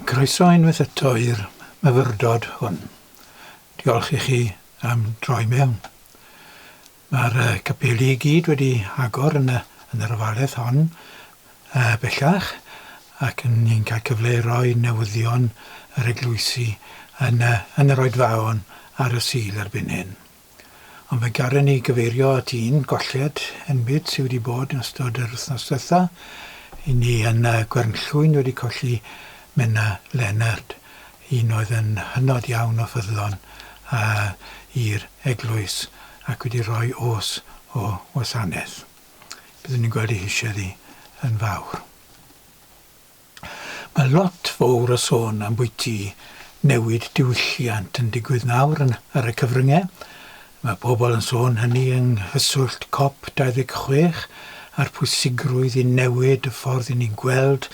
Croeso unwaith eto i'r myfyrdod hwn. Diolch i chi am droi mewn. Mae'r capeli i gyd wedi agor yn y, yn yr ofaledd hon uh, bellach ac yn ni'n cael cyfle i roi newyddion yr eglwysi yn, uh, yn yr oedfaon ar y Sul erbyn hyn. Ond mae Garren i gyfeirio at un golled enbyd sydd wedi bod yn ystod yr wythnos diwetha' i ni yn y Gwernllwyn wedi colli Menna Leonard, un oedd yn hynod iawn o ffyddlon i'r eglwys ac wedi rhoi oes o wasanaeth. Byddwn ni'n gweld ei hisiad hi yn fawr. Mae lot fowr o sôn am bwyty newid diwylliant yn digwydd nawr yn ar y cyfrynge. Mae pobl yn sôn hynny yng nghyswllt Cop 26 a'r pwysigrwydd i newid y ffordd i ni'n gweld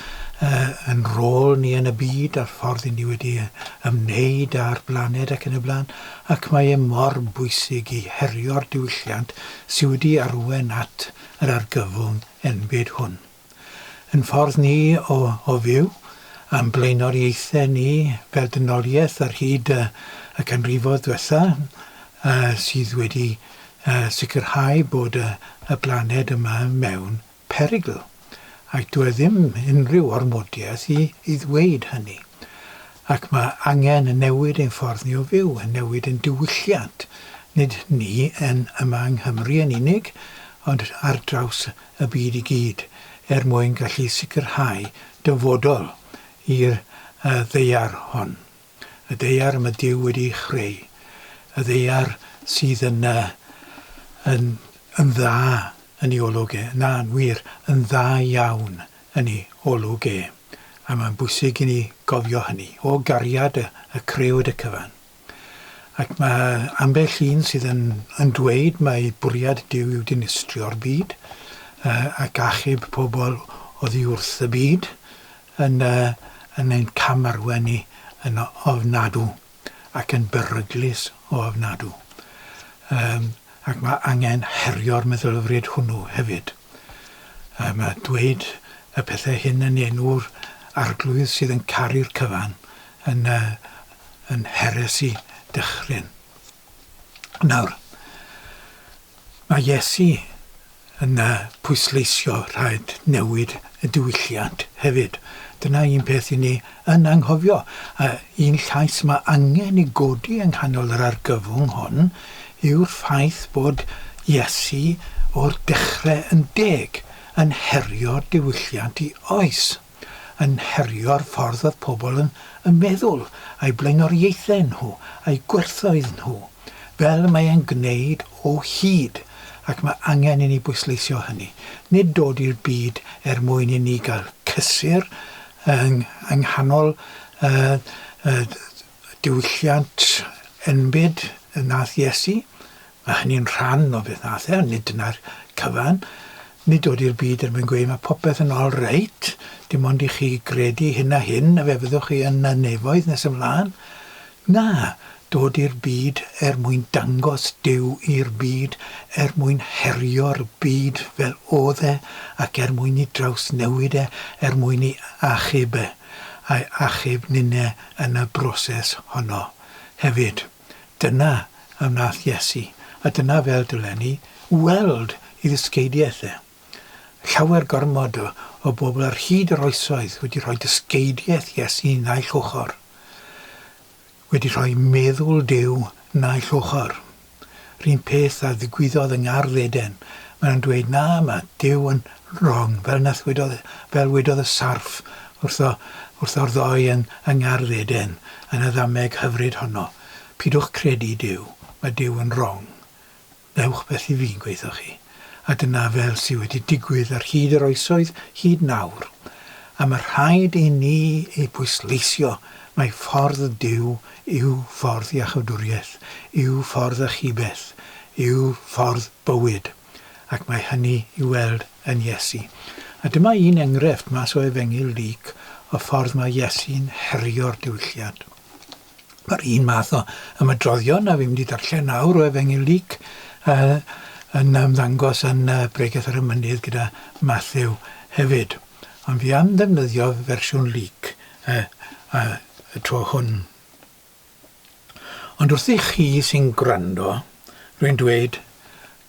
yn rôl ni yn y byd a'r ffordd i ni wedi ymwneud â'r blaned ac yn y blaen ac mae e mor bwysig i herio'r diwylliant sy wedi arwain at yr argyfwng enbyd hwn. Ein ffordd ni o o fyw, a'n blaenoriaethau ni fel dynoliaeth ar hyd y canrifoedd ddiwetha' sydd wedi sicrhau bod y blaned yma mewn perygl, ac doedd ddim unrhyw ormodiaeth i ddweud hynny. Ac mae angen newid ein ffordd ni o fyw, newid ein diwylliant, nid ni yn yma yng Nghymru yn unig, ond ar draws y byd i gyd er mwyn gallu sicrhau dyfodol i'r Ddaear hon, y Ddaear y mae Duw wedi ei chreu, y Ddaear sydd yn, yn, yn dda yn ei olwg e, na, yn wir, yn dda iawn yn ei olwg e, a mae'n bwysig i ni gofio hynny, o gariad y, y Crëwyd y cyfan. Ac mae ambell un sydd yn yn dweud mai bwriad Duw yw dinistrio'r byd ac achub pobl oddi wrth y byd yn yn ein camarwain ni yn ofnadw ac yn beryglus o ofnadw. Yym ac mae angen herio'r meddylfryd hwnnw hefyd. Yym a dweud y pethau hyn yn enw'r Arglwydd sydd yn caru'r cyfan yn yy yn heresi dychryn. Nawr, mae Iesu yn pwysleisio rhaid newid y diwylliant hefyd. Dyna un peth i ni yn anghofio, a un llais mae angen i godi yng nghanol yr argyfwng hon yw'r ffaith bod Iesu o'r dechrau yn deg yn herio diwylliant i oes. yn herio'r ffordd oedd pobl yn yn meddwl, a'u blaenoriaethau nhw, a'u gwerthoedd nhw, fel y mae e'n gwneud o hyd, ac mae angen i ni bwysleisio hynny. Nid dod i'r byd er mwyn i ni gael cysur yng yng nghanol y y Diwylliant enbyd y wnaeth Iesu. Mae hynny'n rhan o beth wnaeth e, ond nid dyna'r cyfan. Nid dod i'r byd er mwyn gweud 'mae popeth yn ol reit, dim ond i chi gredu hyn a hyn a fe fyddwch chi yn y nefoedd nes ymlaen. Na, dod i'r byd er mwyn dangos Duw i'r byd, er mwyn herio'r byd fel oedd e ac er mwyn i drawsnewid e, er mwyn i achub e, a'i achub ninne yn y broses honno hefyd. Dyna a wnaeth Iesu, a dyna fel dylen ni weld ei ddysgeidiaeth e. Llawer gormod o bobl ar hyd yr oesoedd wedi rhoi dysgeidiaeth Iesu naill ochr, wedi rhoi meddwl Duw naill ochr. R'un peth a ddigwyddodd yng ngardd Eden. Mae nhw'n dweud, na, mae Duw yn wrong, fel nath wedodd, fel wedodd y sarff wrtho, wrtho'r ddoi yn, yng ngardd Eden, yn y ddameg hyfryd honno. Pidwch credu Duw, mae Duw yn wrong. Ddewch beth i fi'n gweitho chi. a dyna fel sy wedi digwydd ar hyd yr oesoedd hyd nawr, a ma rhaid i ni ei bwysleisio mai ffordd Duw yw ffordd iachawdwriaeth, yw ffordd achubeth, yw ffordd bywyd, ac mae hynny i'w weld yn Iesu. A dyma un engrefft mas o Efengyl Luc o ffordd ma Iesu'n herio'r diwylliant. Yr un math o ymadroddion a fi'n mynd i ddarllen nawr o Efengyl Luc a yn ymddangos yn Bregeth ar y Mynydd gyda Mathew hefyd. Ond fi am ddefnyddio fersiwn Luc y, y, y tro hwn. Ond wrthych chi sy'n gwrando, rwy'n dweud,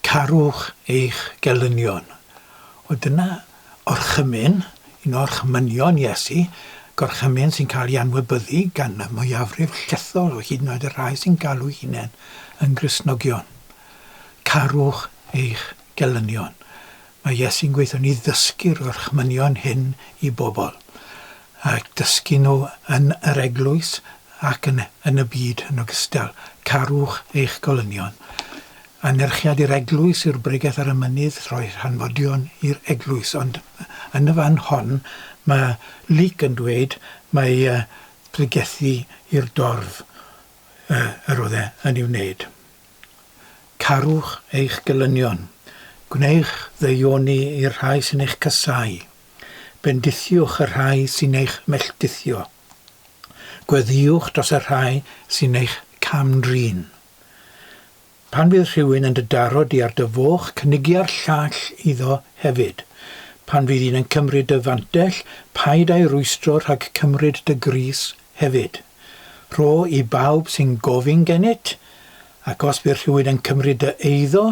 Carwch eich gelynion. Wel, dyna orchymyn, un o orchmynion Iesu, gorchymyn sy'n cael ei anwybyddu gan y mwyafrif llethol o hyd yn oed y rhai sy'n galw'u hunain yn Gristnogion. Carwch eich gelynion. Mae Iesu'n gweithio ni ddysgu'r gorchmynion hyn i bobl, a'u dysgu nhw yn yr eglwys ac yn yn y byd yn ogystal, Carwch eich golynion. Anerchiad i'r eglwys yw'r bregeth ar y mynydd, rhoi rhanfodion i'r eglwys. Ond yn y fan hon mae Luc yn dweud mai pregethu i'r dorf yr oedd e yn ei wneud. Carwch eich gelynion. Gwnewch ddeuoni i'r rhai sy'n eich casáu. Bendithiwch y rhai sy'n eich melltithio. Gweddïwch dros y rhai sy'n eich cam-drin. Pan fydd rhywun yn dy daro di ar dy foch, cynigia'r llall iddo hefyd. Pan fydd un yn cymryd dy fantell, paid â'i rwystro rhag cymryd dy grys Hefyd, rho i bawb sy'n gofyn gennyt, ac os bydd rhywun yn cymryd dy eiddo,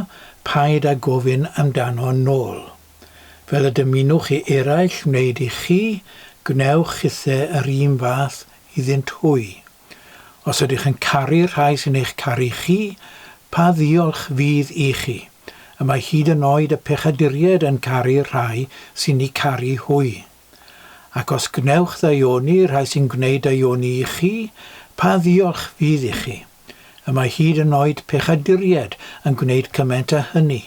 paid â gofyn amdano nôl. Fel y dymunwch i eraill wneud i chi, gwnewch chithe yr un fath iddynt hwy. Os ydych yn caru'r rhai sy'n eich caru chi, pa ddiolch fydd i chi? Y mae hyd yn oed y pechaduriaid yn caru'r rhai sy'n eu caru hwy. Ac os gwnewch ddaioni i'r rhai sy'n gwneud daioni i chi, pa ddiolch fydd i chi? Y mae hyd yn oed pechaduriaid yn gwneud cymaint â hynny.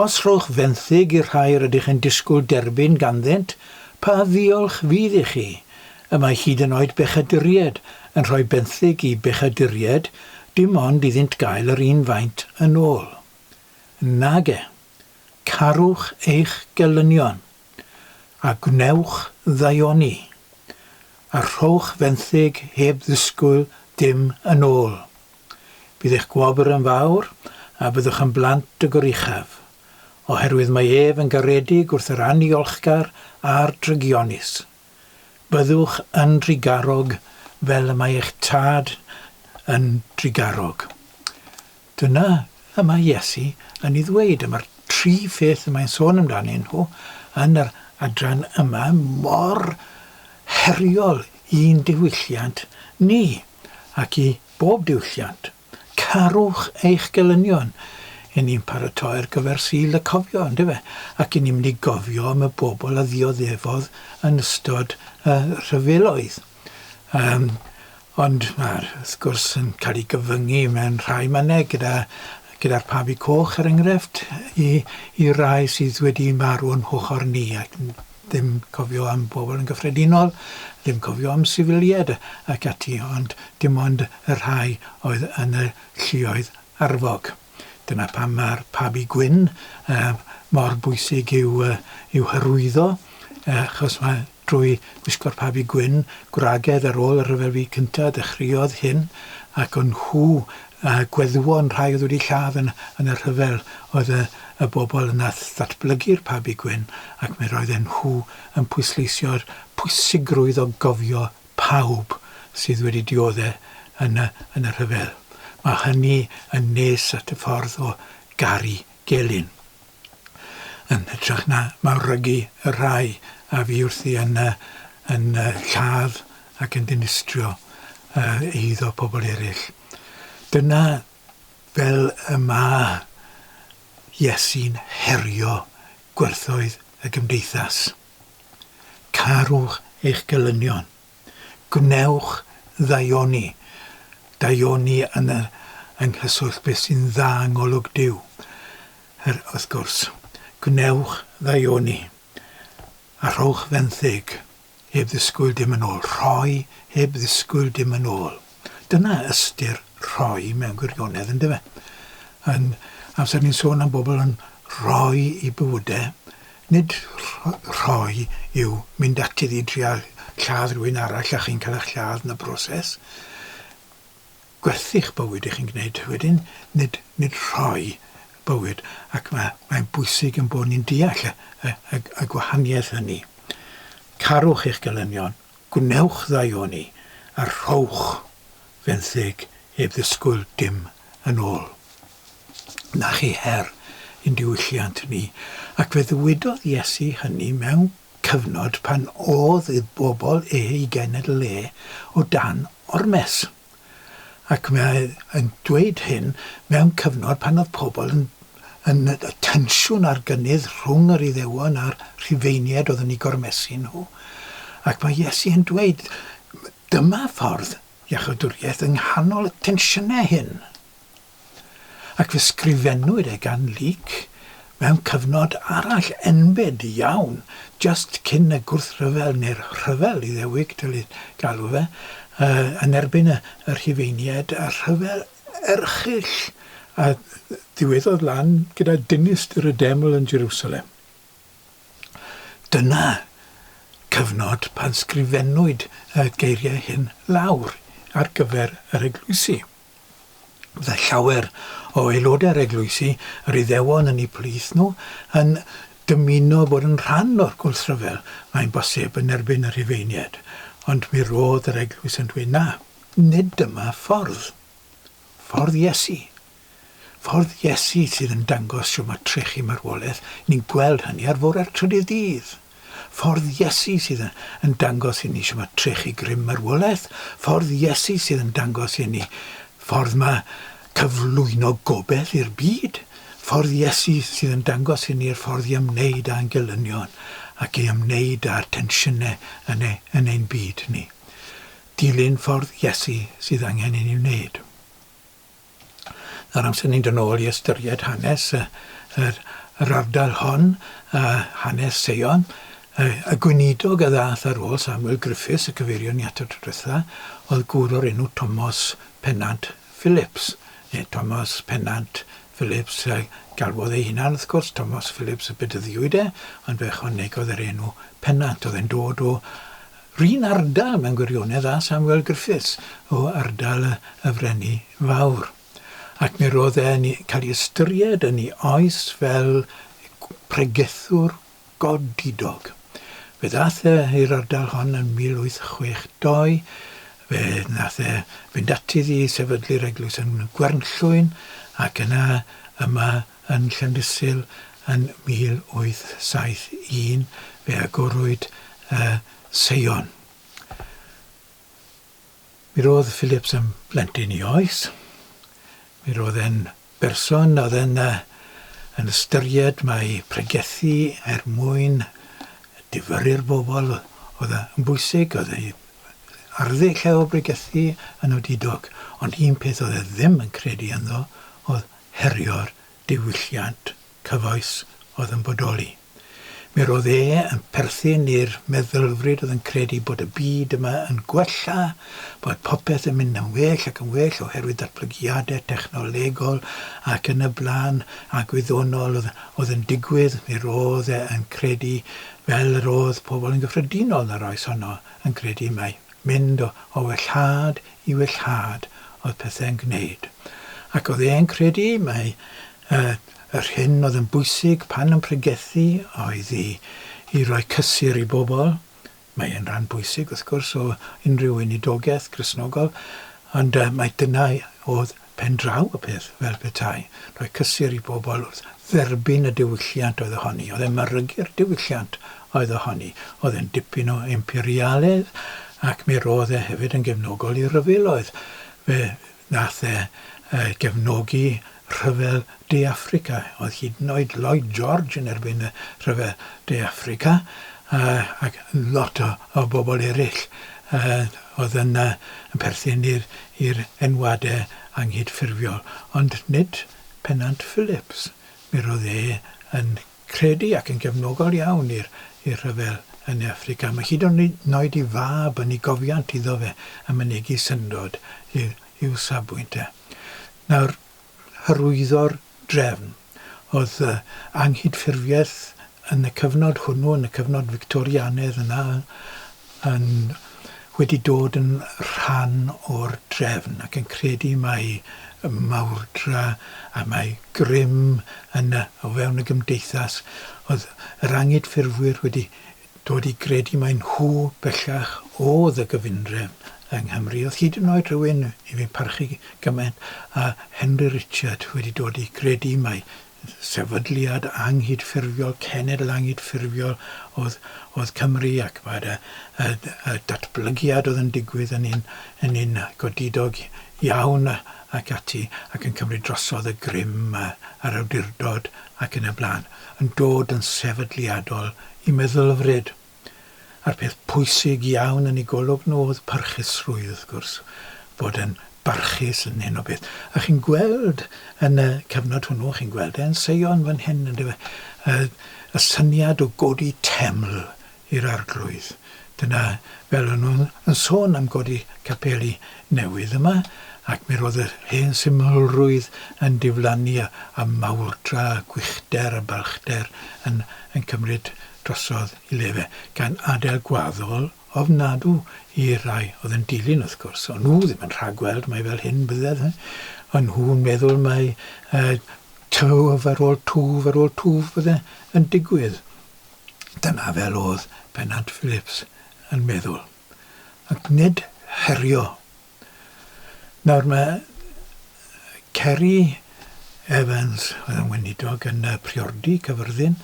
Os rhowch fenthyg i'r rhai rydych yn disgwyl derbyn ganddynt, pa ddiolch fydd i chi? Y mae hyd yn oed bechaduriaid yn rhoi benthyg i bechaduriaid, dim ond iddynt gael yr un faint yn ôl. Nage. Carwch eich gelynion. a gwnewch ddaioni, a rhowch fenthyg heb ddisgwyl dim yn ôl. Bydd eich gwobr yn fawr, a byddwch yn blant y goruchaf, oherwydd mae ef yn garedig wrth yr anniolchgar a'r drygionus. Byddwch yn drugarog fel y mae eich Tad yn drugarog. Dyna y mae Iesu yn ei ddweud am yr tri pheth y mae'n sôn amdanyn nhw yn yr adran yma mor heriol i'n diwylliant ni ac i bob diwylliant, Carwch eich gelynion. Yn ni'n paratoi ar gyfer Sul y Cofio, yndyfe, ac yn ni'n mynd i gofio am y bobl a ddioddefodd yn ystod y rhyfeloedd. Yym ond ma'r sgwrs yn cael ei gyfyngu mewn rhai mannau gyda gyda'r pabi coch er enghraifft i i rai sydd wedi marw o'n hochr ni ac n- ddim cofio am bobl yn gyffredinol, ddim cofio am sifilied ac ati ond dim ond y rhai oedd yn y lluoedd arfog. Dyna pam ma'r pabi gwyn yy mor bwysig i'w yy i'w hyrwyddo yy achos mae Drwy wisgo'r pabi gwyn gwragedd ar ôl y Rhyfel Byd Cyntaf dechreuodd hyn, ac o'n nhw a gweddwon rhai oedd wedi lladd yn yn y rhyfel oedd y y bobl yna wrth ddatblygu'r pabi gwyn ac mi roedden nhw yn pwysleisio'r pwysigrwydd o gofio pawb sydd wedi diodde' yn y yn y rhyfel. Mae hynny yn nes at y ffordd o garu gelyn. yn hytrach na mawrygu y rhai a fu wrthi yn yn lladd ac yn dinistrio eiddo pobl eraill. Dyna fel y mae Iesu'n herio gwerthoedd y gymdeithas. Carwch eich gelynion. Gwnewch ddaioni, daioni yn yr yng nghyswllt beth sy'n dda yng ngolwg Duw, yr wrth gwrs. Gwnewch ddaioni, a rhowch fenthyg, heb ddisgwyl dim yn ôl, rhoi heb ddisgwyl dim yn ôl. Dyna ystyr rhoi mewn gwirionedd, yn dyfe? Yn amser ni'n sôn am bobl yn rhoi i bywydau, nid rhoi yw mynd at iddi i drial lladd rhywun arall a chi'n cael eich lladd yn y broses. Gwerthu'ch bywyd i chi'n gwneud wedyn, nid, nid rhoi bywyd. Ac mae, mae'n bwysig yn bod ni'n deall y, y, y gwahaniaeth hynny. Carwch eich gelynion, Gwnewch ddau oni, a rhowch fenthyg heb ddisgwyl dim yn ôl. Na chi her i'n diwylliant ni, ac fe ddywedodd Iesu hynny mewn cyfnod pan o'dd y bobl ei genedl e o dan ormes. ac mae yn dweud hyn mewn cyfnod pan oedd pobl yn yn y tensiwn a'r gynnydd rhwng yr Iddewon a'r Rhufeiniaid oedd yn eu gormesu nhw. Ac mae Iesu yn dweud, dyma ffordd iachawdwriaeth yng nghanol y tensiynau hyn. ac fe sgrifennwyd e gan Luc mewn cyfnod arall enbyd iawn jyst cyn y Gwrthryfel neu'r Rhyfel Iddewig dylid galw fe, yn erbyn y Rhufeiniaid, rhyfel erchyll a ddiweddodd lan gyda dinistr y Deml yn Jerusalem. Dyna cyfnod pan sgrifennwyd y geiriau hyn lawr ar gyfer yr eglwysi. Byddai llawer o aelodau'r eglwysi yr Iddewon yn eu plith nhw yn dymuno bod yn rhan o'r gwrthryfel, mae'n bosib, yn erbyn y Rhufeiniaid, ond mi roedd yr eglwys yn dweud na, nid dyma ffordd. Ffordd Iesu. Ffordd Iesu sydd yn dangos shwt mae trechu marwolaeth, ni'n gweld hynny ar fore'r trydydd dydd. Ffordd Iesu sydd yn dangos inni shwt mae trechu grym marwolaeth. Ffordd Iesu sydd yn dangos inni ffordd mae cyflwyno gobeth i'r byd. Ffordd Iesu sydd yn dangos inni'r ffordd i ymwneud â'n gelynion ac i ymwneud â'r tensiynau yn, e, yn ein byd ni. Dilyn ffordd Iesu sydd angen inni wneud. Yr amser ni'n dod nôl i ystyried hanes y yr yr ardal hon a hanes Seion y y gweinidog a ddath ar ôl Samuel Griffiths y cyfeirion ni ato tro dwetha o'dd gŵr o'r enw Tomos Pennant Phillips ne' Tomos Pennant Phillips yy galwodd ei hunan wrth gwrs Tomos Phillips y bedyddiwyd e ond fe ychwanegodd yr enw Pennant o'dd e'n dod o Ry'n ardal mewn gwirionedd â Samuel Griffiths o ardal y Frenni Fawr, ac mi roedd e'n cael ei ystyried yn ei oes fel pregethwr godidog. Fe ddaeth e i'r ardal hon yn 1862, fe wnaeth e fynd ati i sefydlu'r eglwys yn Gwernllwyn, ac yna yma yn Llandysul yn 1871 fe agorwyd y seion. Mi roedd Phillips yn blentyn i oes. Mi roedd e'n berson oedd yn, uh, yn ystyried mae pregethu er mwyn difyrru'r bobl oedd yn bwysig, oedd ei arddu lle o bregethu yn odidog, ond un peth oedd e ddim yn credu ynddo oedd herio'r diwylliant cyfoes oedd yn bodoli. Mi roedd e yn perthyn i'r meddylfryd oedd yn credu bod y byd yma yn gwella, bod popeth yn mynd yn well ac yn well oherwydd datblygiadau technolegol ac yn y blaen a gwyddonol oedd yn digwydd. Mi roedd e yn credu, fel yr oedd pobl yn gyffredinol yn yr oes honno yn credu, mai Mynd o wellhad i wellhad oedd pethau'n gwneud, ac oedd e'n credu mai yr hyn oedd yn bwysig pan yn pregethu oedd i roi cysur i bobl, mae e'n ran bwysig wrth gwrs o unrhyw weinidogaeth Gristnogol, ond mai dyna oedd pen draw y peth fel petai rhoi cysur i bobl wrth dderbyn y diwylliant oedd ohoni, oedd e'n marygu'r diwylliant oedd ohoni, oedd e'n dipyn o imperialedd ac mi roedd e hefyd yn gefnogol i ryfeloedd, fe nath e gefnogi rhyfel De Affrica, oedd hyd yn oed Lloyd George yn erbyn y rhyfel De Affrica ac lot o o bobl eraill oedd yn perthyn i'r enwadau anghydffurfiol, ond nid pennant Phillips. Mi roedd e yn credu ac yn gefnogol iawn i'r rhyfel yn Affrica, mae hyd yn oed ei fab yn ei gofiant iddo fe yn mynegi syndod i'w safbwynt e. Nawr, hyrwyddo'r drefn. Oedd anghydffurfiaeth yn y cyfnod hwnnw, yn y cyfnod Fictorianedd yna, yn wedi dod yn rhan o'r drefn ac yn credu mai mawrdra a mai grym yn y, o fewn y gymdeithas, oedd yr anghydffurfwyr wedi dod i gredu mai nhw bellach oedd y gyfundrefn yng Nghymru. Oedd hyd yn oed rhywun, i fi'n parchu gymaint â Henry Richard, wedi dod i gredu mai sefydliad anghydffurfiol, cenedl anghydffurfiol oedd, oedd Cymru ac mae'r y, y, y datblygiad oedd yn digwydd yn un, yn un godidog iawn ac ati ac yn cymryd drosodd y grym a'r awdurdod ac yn y blaen. yn dod yn sefydliadol i meddylfryd, a'r peth pwysig iawn yn ei golwg nhw oedd parchusrwydd, wrth gwrs, bod yn barchus yn hyn o beth. A chi'n gweld yn y cyfnod hwnnw, chi'n gweld e yn Seion fan hyn, yndyfe, y syniad o godi teml i'r Arglwydd. Dyna fel o'n nhw'n yn sôn am godi capeli newydd yma, ac mi roedd yr hen symlrwydd yn diflannu a a mawrdra a gwychder a balchder yn yn cymryd drosodd i le fe, gan adael gwaddol ofnadw i rai oedd yn dilyn wrth gwrs, o'n nhw ddim yn rhagweld mai fel hyn bydded, o'n nhw'n meddwl mai yy twf ar ôl twf ar ôl twf bydde yn digwydd. Dyna fel oedd Pennant Phillips yn meddwl, ac nid herio. Nawr mae Ceri Evans, oedd yn weinidog yn priodi Cyfyrddin,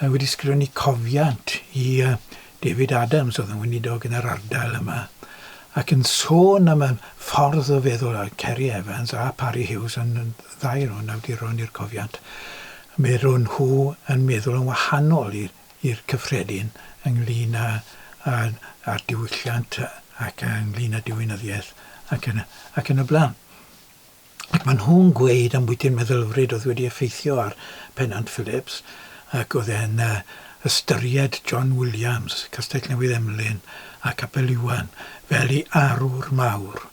wedi sgrifennu cofiant i David Adams, oedd yn weinidog yn yr ardal yma, ac yn sôn am y ffordd o feddwl Ceri Evans a Parry Hughes yn ddau o'n awduron i'r cofiant, Maen nhw yn meddwl yn wahanol i'r cyffredin ynglŷn â'r diwylliant ac ynglŷn â diwinyddiaeth ac yn y blaen. Ac maen nhw'n gweud ambwyti'r meddylfryd oedd wedi effeithio ar Pennant Phillips ac oedd e'n ystyried John Williams, Castell Newydd Emlyn a Capel Iwan fel ei arwr mawr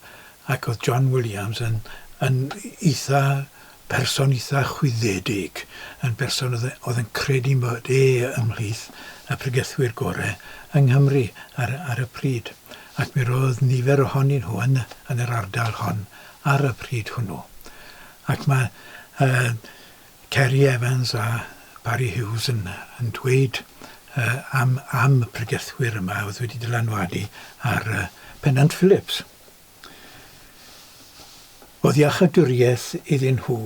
ac oedd John Williams yn eitha' Person eitha chwyddedig, yn berson oedd yn oedd yn credu bod e ymhlith y pregethwyr gore yng Nghymru ar ar y pryd, ac mi roedd nifer ohonyn nhw yn yn yr ardal hon ar y pryd hwnnw. Ac mae yy Ceri Evans a Barry Hughes yn yn dweud yy am am y pregethwyr yma oedd wedi dylanwadu ar yy Pennant Phillips. Oedd iachawdwriaeth iddyn nhw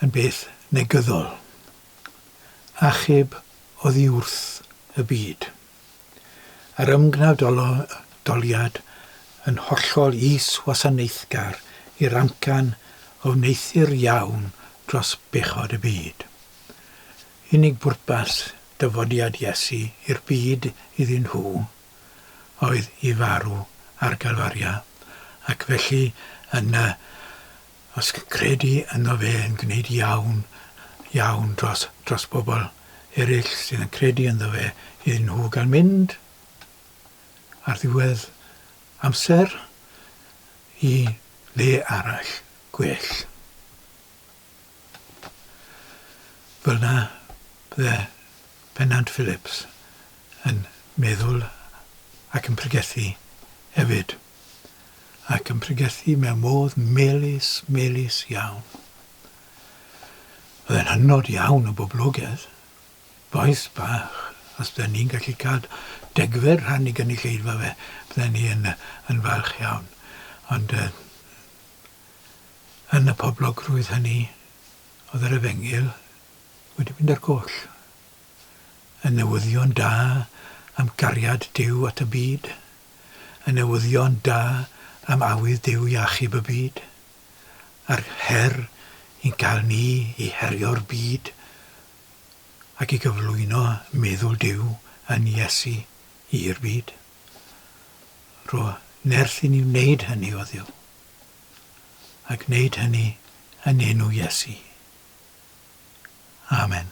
yn beth negyddol. Achub oddi wrth y byd. Yr ymgnadoliad yn hollol is-wasanaethgar i'r amcan a wneuthur iawn dros bechod y byd. Unig bwrpas dyfodiad Iesu i'r byd iddyn nhw oedd i farw ar Galfaria, ac felly yna, os credu ynddo fe yn gwneud iawn, iawn dros, dros bobl eraill sydd yn credu ynddo fe, iddyn nhw gael mynd ar ddiwedd amser i le arall, gwell. Fel na fydde Pennant Phillips yn meddwl ac yn pregethu hefyd, ac yn pregethu mewn modd melys, melys iawn. Oedd e'n hynod iawn o boblogedd, bois bach, os da ni'n gallu cael degfed rhan i gynulleidfa fe, bydden ni yn falch iawn. Ond yy yn y poblogrwydd hynny oedd yr efengyl wedi mynd ar goll. Y newyddion da am gariad Duw at y byd, y newyddion da am awydd Duw i achub y byd, a'r her i'n cael ni i herio'r byd ac i gyflwyno meddwl Duw yn Iesu i'r byd. Rho nerth i ni wneud hynny, o Dduw, a gwneud hynny yn enw Iesu. Amen.